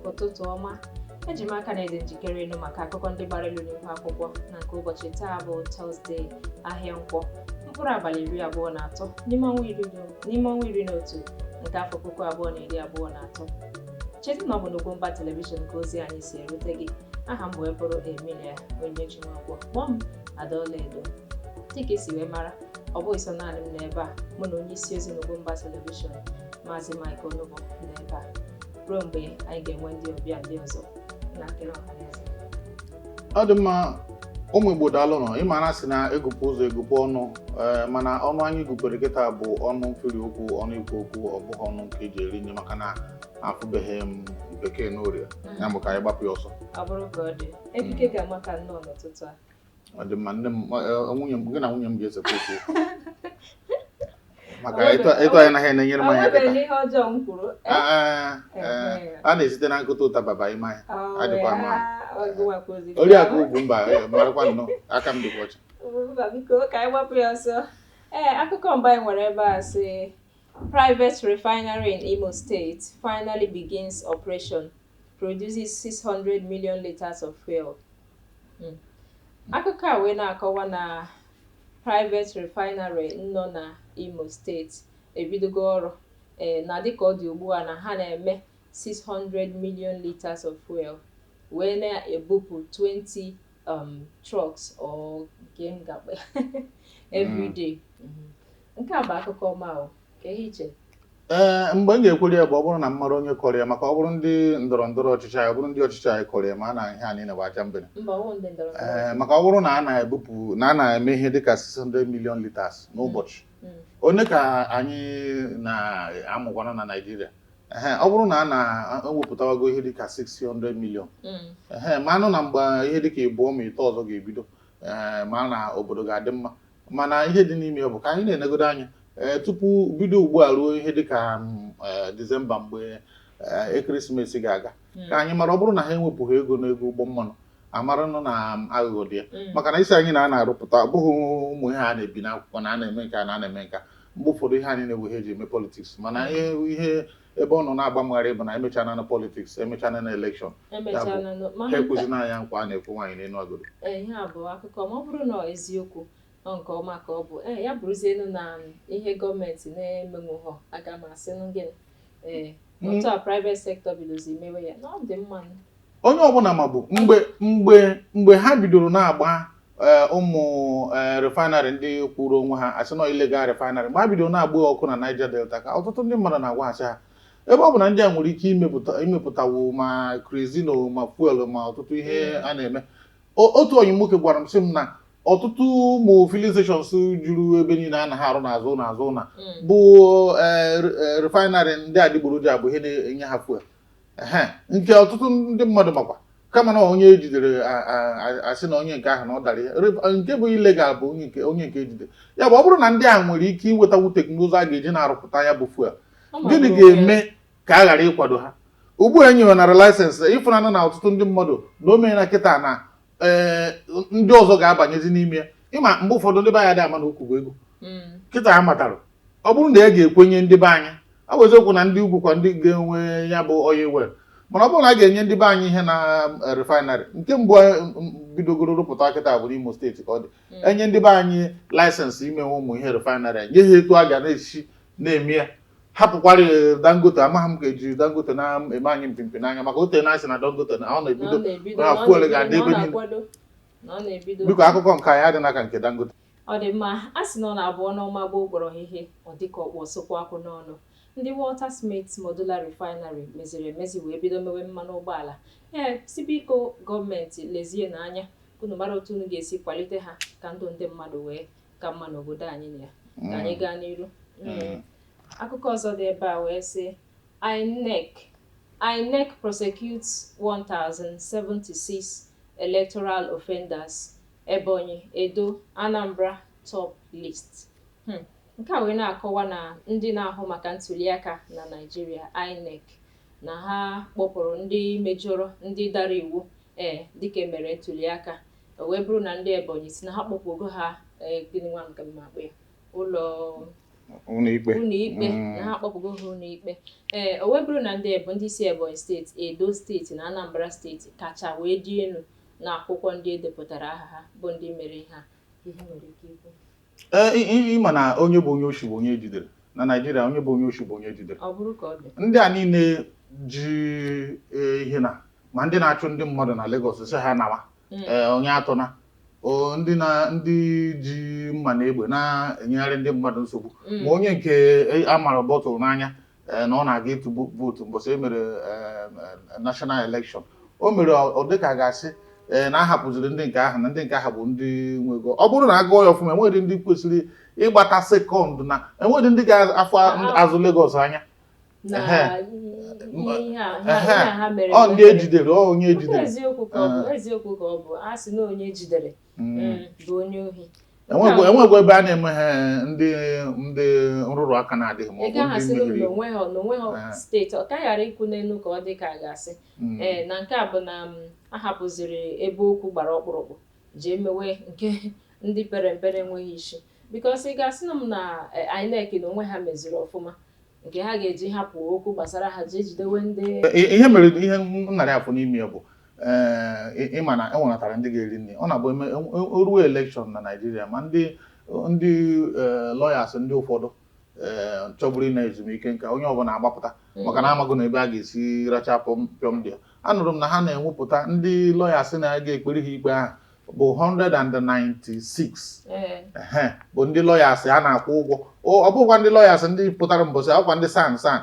ụtụtụ ọma eji m aka na ị dị njikere ịnụ maka akụkọ ndị gbara elu n'ihu akwụkwọ na nke ụbọchị taa bụ tọzdee ahịa nkwọ mkpụrụ abalị iri abụọ na atọ n'ime ọnwa iri na otu nke afọ puku abụọ na iri abụọ na atọ cheta na ọ bụ n'Ugwumba telivishọn ka ozi anyị si erute gị aha m wee bụrụ Emilia Onyechi Nwankwo kpọọ m Ada Ọlaedo dịka i si wee mara ọ bụghị sọ naanị m nọ ebe a mụ na onye isi ozi n'Ugwumba telivishọn maazị Mike Onugbu nọ ebe a ruo mgbe anyị ga-enwe ndị ọbịa ndị ọzọ na nkiri ọhaneze ọ dị mma ụmụ Igbo daalụnụ ị ma na a sị na egụpụ ụzọ egụpụ ọnụ ee eh, mana ọnụ anyị gụpere kịta bụ ọnụ mfiri okwu ọnụ ikwu okwu ọ bụghị ọnụ nke eji eri nri maka na afụbeghị m bekee n'orie ya bụ ka anyị gbapụ ya ọsọ ọ bụrụ ka ọ dị ekike gị amaka nnọọ n'ụtụtụ a ọ dị mma nne m eh, nwunye m gị na nwunye m ga-esekwa okwu maka etu anyị naghị na-enyere m anya kịta a na-esite na nkụta ụta baba ime anya adịkwa mma oriakụ Ugwumba eh, marakwa nnọọ aka m dịkwa ọcha ee akụkọ mbụ anyị nwere ebe a sị Private refinery in Imo State finally begins operation, produces 600 million liters of fuel. Hmm. Akụkọ a wee na-akọwa na private refinery nọ na Imo steeti ebidogo ọrụ ee eh, na dịka ọ dị ugbu a na ha na-eme 600 million liters of fuel wee na-ebupụ 20 um, trucks or game every mm. day. Mm-hmm. Nke a bụ akụkọ ọma o, ka ihe iche. Ee, mgbe m ga-ekwere ya bụ ọ bụrụ na m mara onye kọrọ ya maka ọ bụrụ ndị ndọrọ ndọrọ ọchịchị anyị ọ bụrụ ndị ọchịchị anyị kọrọ ya mara na ihe a niile bụ ajambene Mba ọwụ ndị ndọrọ ndọrọ ee ọchịchị. maka ọ bụrụ na a na-ebupụ na a na-eme ihe dịka 600 million liters n'ụbọchị Mm. one ka anyị na-aṅụkwanụ na Naịjirịa ehe ọ bụrụ na a na-ewepụtawago ihe dịka 600 million Mm. ehe maranụ na mgbe ihe dịka ịbụọ ma ịtọ ọzọ ga-ebido ee mara na obodo ga-adị mma mana ihe dị n'ime ya bụ ka anyị na-enegodo anya ee tupu bido ugbu a ruo ihe dịka ee Disemba mgbe ee ekeresimesi ga-aga ka anyị mara ọ bụrụ na ha ewepụghị ego n'ego ụgbọ mmanụ a maranụ na aghụghọ dị ya maka na ị sị anyị na a na-arụpụta ọ bụghị ụmụ ihe a na-ebi n'akwụkwọ na a na-eme nke a na a na-eme nke a mgbe ụfọdụ ihe a niile wụ ihe eji eme politiks mana ihe ihe ebe ọ nọ na-agba m gharị bụ na emechana nụ politiks emechana nụ elekshọn emechana nụ ha mana nke ekwezina anyị nkwa a na-ekwe nwaanyị n'elu agodo ee, ihe a bụ akụkọ ọma ọ bụrụ na ọ eziokwu ọ nke ọma ka ọ bụ ee ya bụrụzienu na ihe gọọmenti na-emenwughọ aga m asịnụ gịnị ee Mm. otu a private sector bidozi mewe ya na ọ dị mma nụ. onye ọbụla mabu mgbe mgbe mgbe ha bidoro na-agba eh, ụmụ eh, refinery ndị kwụrụ onwe ha asị na illegal refinery mgbe ha bidoro na-agba ọkụ na Niger Delta ka ọtụtụ ndị mmadụ na-agwa asị ha ebe ọ bụ na ndị a nwere ike imepụta imepụtawo ma kerosene ma fuel ma ọtụtụ ihe a na-eme O- otu onye nwoke gwara m sị m na ọtụtụ ụmụ filling stations juru ebe niile anaghị arụ n'azụ n'azụ na bụ eh, re- eh, refinery ndị adịgboroja bụ ihe na-enye ha fuel Ehe, nke ọtụtụ ndị mmadụ makwa kama na onye ejidere a- a- a- asị na onye nke ahụ na ọ dara ya Rep- nke bụ illegal bụ onye nke onye nke ejide ya bụ ọ bụrụ na ndị a nwere ike iwetakwu teknụzụ a ga-eji na-arụpụta ya bụ fuel gịnị ga-eme ka a ghara ịkwado ha ugbu a e nyenara laịsensị ị fụnana na ọtụtụ ndị mmadụ na o meela kịta na ee ndị ọzọ ga-abanyezi n'ime ya ị ma mgbe ụfọdụ ndị be anyị adị ama na okwu bụ ego Mm. kịta a matara ọ bụrụ na a ga-ekwenye ndị be anyị ọ bụ eziokwu na ndị ugwu kwa ndị ga-enwe ya bụ oil well mana ọ bụrụ na a ga-enye ndị be anyị ihe na eh, refinery nke mbụ eh, m- m- bidogoro rụpụta kịta bụ n'Imo steeti ka ọ dị enye ndị be anyị laịsensị imewe ụmụ ihe refinery nye ha etu a ga na-esi na-eme ya hapụkwara Dangote amaghị m ka eji Dangote na-eme anyị mpimpi n'anya maka o teena a sị na Dangote na ọ na-ebido na fuel ga-adị ebe niile. biko akụkọ nke anyị adị n'aka nke Dangote Ọ dị mma, a sị na ọ na-abụ ọnụ ọma gbuo ọkpọrọhịhị, ọ dị ka ọ kpụ osukwu akwụ n'ọnụ. Ndị Waltersmith Modular Refinery meziri emezi wee bido mewe mmanụ ụgbọala. E sị biko gọọmenti lezienụ anya ka unu mara otu unu ga-esi kwalite ha ka ndụ ndị mmadụ wee ka mma n'obodo anyị na ya. Ka anyị gaa n'iru. Mm. Akụkọ ọzọ dị ebe a wee sị INEC INEC prosecutes 1076 electoral offenders Ebonyi, Edo, Anambra top list. Hmm. Nke a wee na-akọwa na ndị na-ahụ maka ntuliaka na Naịjirịa, INEC, na ha kpọpụrụ ndị mejọrọ ndị dara iwu ee dịka emere ntuliaka o wee bụrụ na ndị Ebonyi sị na ha kpọpụgo ha ee gịnị nwa nke m ma akpọ ya ụlọ ụlọikpe ụlọikpe na ha akpọpụgo ha ụlọikpe ee o wee bụrụ na ndị Ebo ndị si Ebonyi steeti Edo steeti na Anambra steeti kacha wee dị elu na akwụkwọ ndị e depụtara aha ha bụ ndị mere ihe a ihe nwere ike ikwu ee ị ma na onye bụ onye oshi bụ onye ejidere na Naịjirịa onye bụ onye oshi bụ onye ejidere ọ bụrụ ka ọ dị ndị a niile ji e, ihe na ma ndị na-achụ ndị mmadụ na Lagos sị ha nawa Mm. ee, onye atụna o, ndị na ndị ji mma na egbe na-enyegharị ndị mmadụ nsogbu Mm. ma onye nke e, a mara bọtụl n'anya na ọ na-aga ịtụ vootu mbọsị e mere national election o mere ọ dịka a ga-asị ee na ahapụziri ndị nke ahụ na ndị nke ahụ bụ ndị nwe ego ọ bụrụ na a gụọ ya ọfụma enweghị ndị kwesịrị ịgbata sekọnd na enweghị ndị ga-afụ azụ Lagos anya ọ ndị ejidere onye ejidere eziokwu ka ọ bụ a sị na onye ejidere enwegwa ebe a na-eme ihe ndị ndị nrụrụ aka na-adịghị ma ọ bụ ndị mmehiri onweghị steeti ọ ka ghara ikwu n'elu ka ọ dị ka a ga-asị mm. ee na nke a bụ na mm, a hapụziri ebe okwu gbara ọkpụrụkpụ jee mewe nke ndị pere mpere enweghị isi bikos ị ga-asị na m na e, INEC n'onwe ha meziri ọfụma nke ha ga-eji hapụ okwu gbasara ha jee jidewe ndị ihe mere ihe narị afọ n'ime ya bụ ee ịma na enwenatara ndị ga-eri nri ọ na-abụ eme ruo elekshọn na Naịjirịa ma ndị ndị lọyas ndị ụfọdụ chọburu ịna ezumike nka onye ọbụla agbapụta maka na amago na ebe a ga-esi racha pịọm dị ya anụrụ m na ha na-ewepụta ndị lọyas na-aga ekpere ha ikpe ahụ bụ 196 ee ehe bụ ndị lọyas a na-akwụ ụgwọ O- ọ bụkwa ndị lọyas ndị pụtara mbọsị a kwa ndị SAN SAN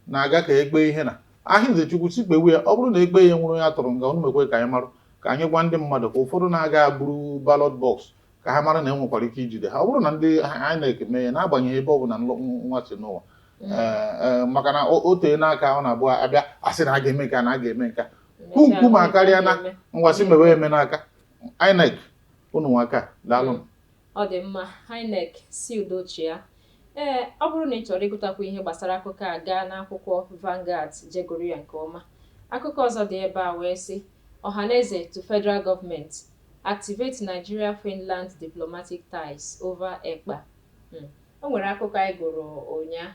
na-aga ka ekpe ihe na ahịnze chukwu si kpewe ya ọ bụrụ na ekpe ya nwụrụ ya tụrụ nga unu mekwe ka anyị marụ ka anyị gwa ndị mmadụ ka ụfọdụ na-aga buru balọt bọks ka ha mara na enwekwara ike ijide ha ọ bụrụ na ndị INEC mee ya n'agbanyeghị ebe ọ bụla nlọ- nwa si nọ ụwa Ee, ee, maka na o o teena aka ọ na-abụ abịa asị na a ga-eme nke a na a ga-eme nke a Hụ nkume akarịa na ngwasị mewe eme n'aka INEC unu anwaka daalụ m. ọ dị mma INEC sị udo chịa ee ọ bụrụ na ị chọrọ ịgụtakwu ihe gbasara akụkọ a gaa n'akwụkwọ Vanguard jee gụrụ ya nke ọma akụkọ ọzọ dị ebe a wee sị Ohaneze to federal government activate Nigeria-Finland diplomatic ties over Ekpa Hmm. O nwere akụkọ anyị gụrụ ụnya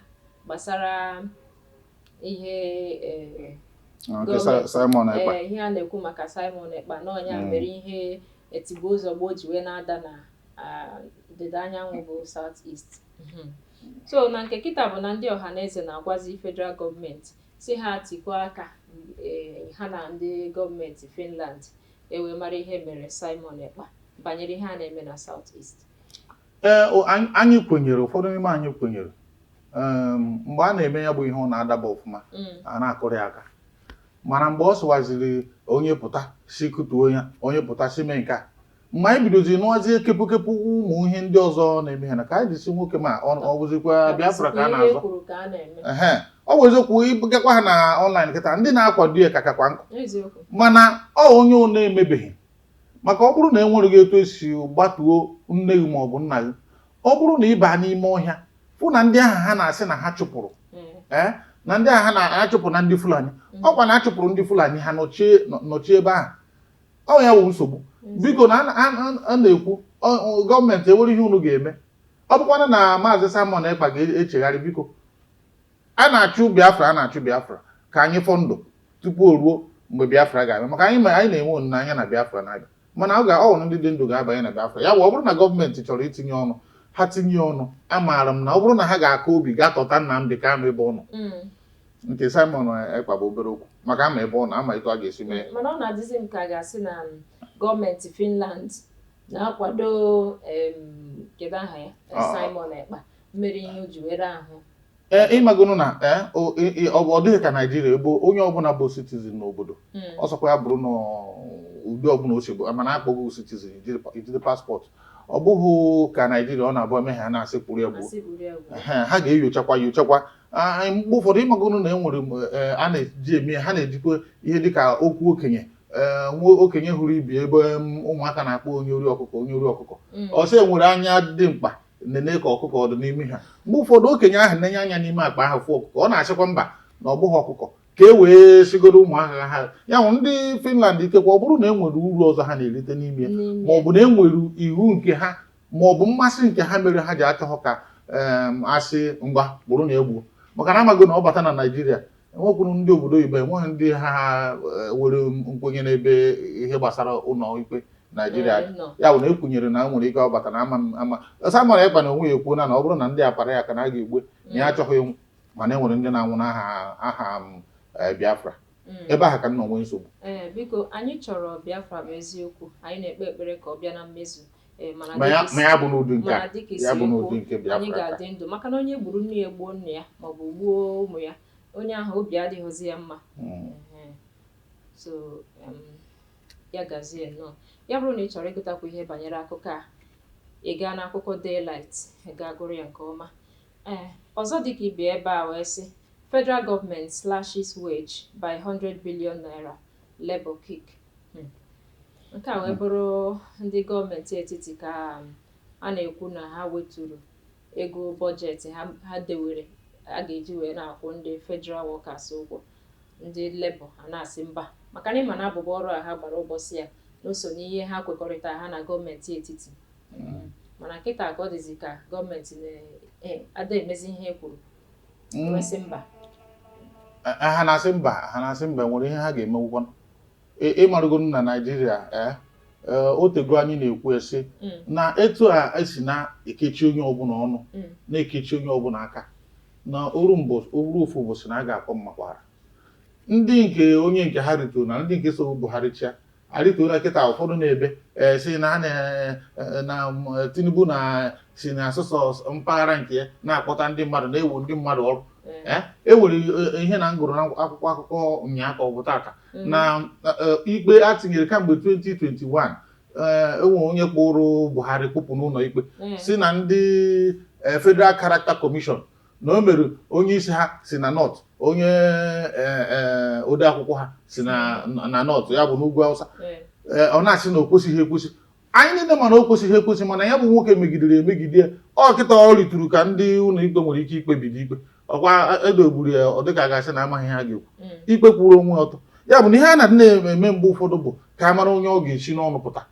gbasara ihe eh, Ah, nke Gọọmenti. Si- Simon Ekpa eh, ihe a na-ekwu maka Simon Ekpa na ọ nya Mm. mere ihe etigbuo zọgbuo ji wee na-ada na ah, ndịda anyanwụ bụ South East. Mhm. so na nke kịta bụ na ndị Ọhaneze na-agwazi federal gọọmenti sị ha tikọọ aka eh, ha na ndị gọọmenti Finland e wee mara ihe e mere Simon Ekpa banyere ihe a na-eme na South East. ee o- anyị- anyị kwenyere ụfọdụ n'ime anyị kwenyere Em, mgbe a na-eme ya bụ ihe ọ na-adaba ọfụma Mm. a na-akụrụ ya aka mana mgbe ọ sụwaziri onye pụta sị kụtuo ya onye pụta sị mee nke a mgbe anyị bidozi nụwazie kepụkepụ ụmụ ihe ndị ọzọ na-eme ha na ka anyị ji sị nwoke m a ọ ọ bụzikwa biafra ka a Ihe na-azọ kwuru ka a na-eme ehe ọ bụ eziokwu ị gakwa ha na ọnlaịn kịta ndị na-akwado ya ka kakwa nkụ eziokwu mana ọ onye ọ na-emebeghị maka ọ bụrụ na e nwereghị etu esi gbatuo nne gị ma ọ bụ nna gị ọ bụrụ na ị baa n'ime ọhịa fụ na ndị ahụ ha na-asị na ha chụpụrụ ee na ndị ahụ ha chụpụrụ na ndị fulani ọkwa na achụpụrụ ndị fulani ha nọchie nọ- nọchie ebe ahụ ọ ya wụ nsogbu biko na a na- a na- a na-ekwu ọ- ọ- gọọmenti enwere ihe unu ga-eme ọ bụkwanụ na maazị Simon Ekpa ga-echegharị biko a na-achụ Biafra a na-achụ Biafra ka anyị fọ ndụ tupu o ruo mgbe Biafra ga-abịa maka anyị anyị na-enwe olileanya na Biafra na-abịa mana ọ ga- ọ wụ ndị dị ndụ ga-abanye na Biafra ya bụ ọ bụrụ na gọọmenti chọrọ itinye ọnụ ha tinye ọnụ amaara m na ọ bụrụ na ha ga-aka obi ga-atọta Nnamdị ka ama ebe ọ nọ mm. nke Simon Ekpa bụ obere okwu maka ama ebe ọ nọ ama etu a ga-esi mee mana ọ na-adịzi m ka a ga-asị na um, gọọmenti Finland na-akwado kedu aha ya Simon Ekpa mere ihe o ji were ahụ ee eh, ịmagonu na eh, ọ bụ ọ dịghị ka naijiria ebe onye ọbụla bụ citizen n'obodo hmm. ọ sọkwa ya bụrụ na ụdị ọbụla o si bụ mana akpọgo citizen ijide paspọtụ ọ bụghị ka naijiria ọ na-abụ eme ha na-asị kpụrụ ya gbuo ha ga-enyochakwa nyochakwa ah, mgbe ụfọdụ ịmagonu na e nwere eh, a na-eji eme ha na-ejikwa ihe dịka okwu okenye Eh, nwa okenye hụrụ ibe ya ebe ụmụaka na-akpọ onye ori ọkụkọ onye ori ọkụkọ mm. ọ sị e were anya dimkpa nene ka ọkụkọ ọ dụ n'ime ha mgbe ụfọdụ okenye ahụ nenye anya n'ime akpa ahụ fụ ọkụkọ ọ na-asịkwa mba na ọ bụghị ọkụkọ ka e wee sigoro ụmụaka ha ya wụ ndị Finland ikekwa ọ bụrụ na e nwere uru ọzọ ha na-erite n'ime ma ọ bụ na e nwere iwu nke ha ma ọ bụ mmasị nke ha mere ha ji achọghọ ka asị ngwa kpụrụnụ ya gbuo maka na amago na ọ bata na Naịjirịa enwekwuru ndị obodo oyibo enweghị ndị ha eh, were nkwenye n'ebe ihe gbasara ụlọ ikpe naijiria dị. Nọ. ya bụ na ekwenyere na nwere ike ọ bata na ama m- ama Simon Ekpa n'onwe ya ekwuo na na ọ bụrụ na ndị a kpara ya aka na a ga-egbu ya na ya achọghị ịnwụ mana e nwere ndị na-anwụ n'aha aha m, eh, biafra Mm. ebe ahụ ka m nọ nwee nsogbu ee biko anyị chọrọ biafra bụ eziokwu anyị na-ekpe ekpere ka ọ bịa na mmezu Eh, ma ya bụ n'ụdị nke ya bụ n'ụdị nke Biafra anyị ga-adị ndụ maka na onye gburu nne ya gbuo nna ya ma ọ bụ gbuo ụmụ ya onye ahụ obi adịghịzi ya mma hmm. eh, so ya gazie nnọọ ya bụrụ na ị chọrọ ịgụtakwu ihe banyere akụkọ a ị gaa n'akwụkwọ daylight gaa gụrụ ya nke ọma ee eh, ọzọ dịka ibe ya ebe a wee sị federal government slashes wage by 100 billion naira Labour Kick. Hmm. Nke a wee bụrụ ndị gọọmenti etiti ka a na-ekwu na ha weturu ego bọjetị ha dewere a ga-eji wee na-akwụ ndị federal workers ụgwọ ndị lebọ a na-asị mba maka na ịma na abụbụ ọrụ a ha gbara ụbọchị ya na o so n'ihe ha kwekọrịta ha na gọọmenti etiti hmm. mana kịta ka ọ dịzi ka gọọmenti na-ada e, emezi ihe e kwuru mm. e mba eh, eh, ha na-asị mba ha na-asị mba nwere ihe ha ga-emenwukwa ị marugo na Naijiria eh, o tego anyị na-ekwu asị mm. na etu a e si na-ekechi onye ọbụla ọnụ mm. na-ekechi onye ọbụla aka na o ruo ofu ụbọchị na a ga-akpọ mmakwaara ndị nke onye nke ha rịtoro na ndị nke so Buhari chịa arịtuola kịta ụfọdụ na-ebe eh, sị na eh, eh, Tinubu na sị na ọ sọsọ mpaghara nke ya na-akpọta ndị mmadụ na-ewe ndị mmadụ ọrụ e nwere ihe na m gụrụ n'akwụkwọ akụkọ ụnyaahụ ka ọ bụ tata mm. na ikpe a tinyere kamgbe 2021 e nwe onye kpụrụ Buhari kpụpụ n'ụlọ ikpe mm. sị na ndị Federal Character Commission na o mere onye isi ha si na North onye eh, eh, ode akwụkwọ ha si na na North ya bụ n'ugwu Awụsa Ee. ee, ọ na-asị na o kwesịghị ekwesị anyị niile ma na o kwesịghị ekwesị mana ya bụ nwoke megidere emegide ya ọ kịta ọ rịturu ka ndị ụlọ ikpe nwere ike ikpebido ikpe ọkwa e doburu ya ọ dịka a ga-asị na amaghị ihe ha ga-ekwu Mm. ikpe kwụrụ onwe ọtọ ya bụ na ihe a na-adị na-eme mgbe ụfọdụ bụ ka a mara onye ọ ga-esi n'ọnụ pụta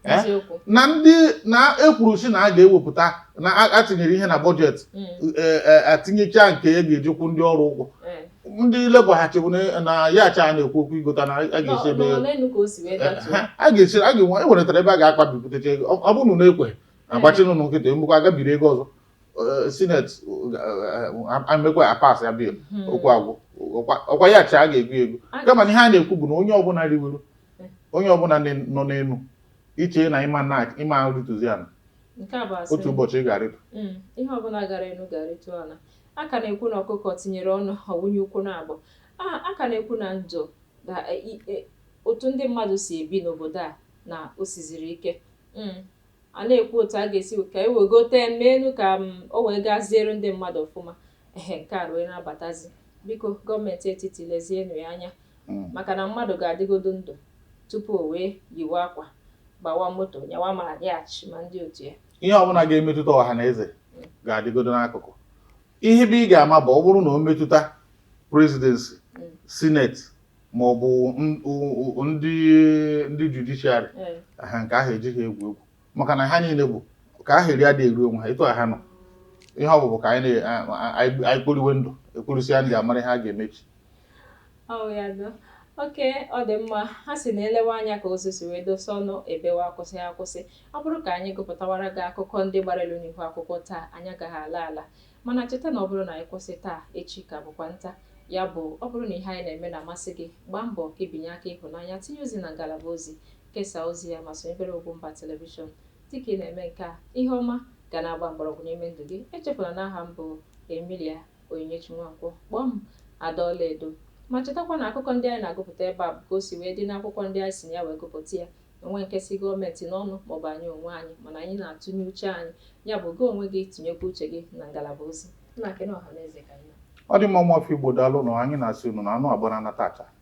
Eh? eziokwu na ndị na-ekwuru sị na a ga-ewepụta na a- atinyere ihe na bọjetị Mm, eh, eh, atinyecha nke a ga-eji kwụ ndị ọrụ ụgwọ eh. ndị Labour ha chebu na- na yacht a na-ekwu okwu igota na a Nọ- ga-esi ebe nọ n'elu ka o si wee datuo Ha- a ga-esi a ga-enwe enweretara ebe a ga-akpa bipụtacha ego ọ ọ bụrụ na unu ekwe agbachiri unu nkịtị e mekwa a gaa biri ego ọzọ Eh, sineti emekwa a-pass ya bill Hmm. okwu agwụ ọkwa- ọkwa yacht a ga-ego ego Aga- kama na ihe a na-ekwu bụ na onye ọbụla riwere onye ọbụla nọ n'elu ị chee na ị ma na ị ma arịtụzi ala otu ụbọchị ị ga-arịtụ mm, ihe ọbụla gara elu ga-arịtụ ala a ka na-ekwu na ọkụkọ tinyere ọnụ ọ wụnye ụkwụ naabọ a ka na-ekwu na ndụ na e, e, otu ndị mmadụ si ebi n'obodo a na o siziri ike mm, a na-ekwu otu a ga-esi ka e wegote n'elu ka mm, o wee gaziere ndị mmadụ ọfụma Ehe, nke a ruo na-abatazi. Biko, gọọmenti etiti lezienụ ya anya mm. maka na mmadụ ga-adịgodo ndụ tupu o wee yiwe akwa, gbawa moto, nyawa ma yacht ma ndị otu ya. Ihe ọbụla ga-emetụta ọha na eze mm. ga-adịgodo n'akụkụ. Ihe bụ ị ga-ama bụ ọ bụrụ na o metụta presidency, mm. sineti ma ọ bụ ndị ndị judiciary ha nke ahụ e jighị egwu egwu maka na ha niile bụ ka aha eri adịghị eru onwe ha etu a ha nọ ihe ọ bụ bụ ka anyị kporiwe ndụ e kporisịa ndụ a mara ihe a ga-emezi okay ọ dị mma ha sị na e lewe anya ka ozu si wee dosa ọnụ e bewe akwụsị akwụsị ọ bụrụ ka anyị gụpụtawara gị akụkọ ndị gbara elu n'ihu akwụkwọ taa anyị agaghị ala ala mana cheta na ọ bụrụ na anyị kwụsị taa echi ka bụkwa nta ya bụ ọ bụrụ na ihe anyị na-eme na-amasị gị gbaa mbọ ka ị binye aka ịhụnanya tinye ozi na ngalaba ozi Kesaa ozi ya ma sonyebere Ugwumba Television. Dị ka ị na-eme nke a, ihe ọma ga na-agba mgbọrọgwụ n'ime ndụ gị. Echefula na aha m bụ Emilia Onyinyechi Nwankwo. Kpọọ m Ada Ọlaedo. Ma chetakwa na akụkọ ndị anyị na-agụpụta ebe a bụ ka o si wee dị n'akwụkwọ ndị anyị si na ya wee gụpụta ya. O nwee nke si gọọmenti n'ọnụ maọbụ anyị onwe anyị, mana anyị na-atụnye uche anyị. Ya bụ, gị onwe gị tinyekwa uche gị na ngalaba ozi. Nna, kene ọhanaeze ka anyị na. Ọ dị mma ụmụafọ Igbo daalụ nụ, anyị na-asị unu na anụ a gbara naa taa, echi.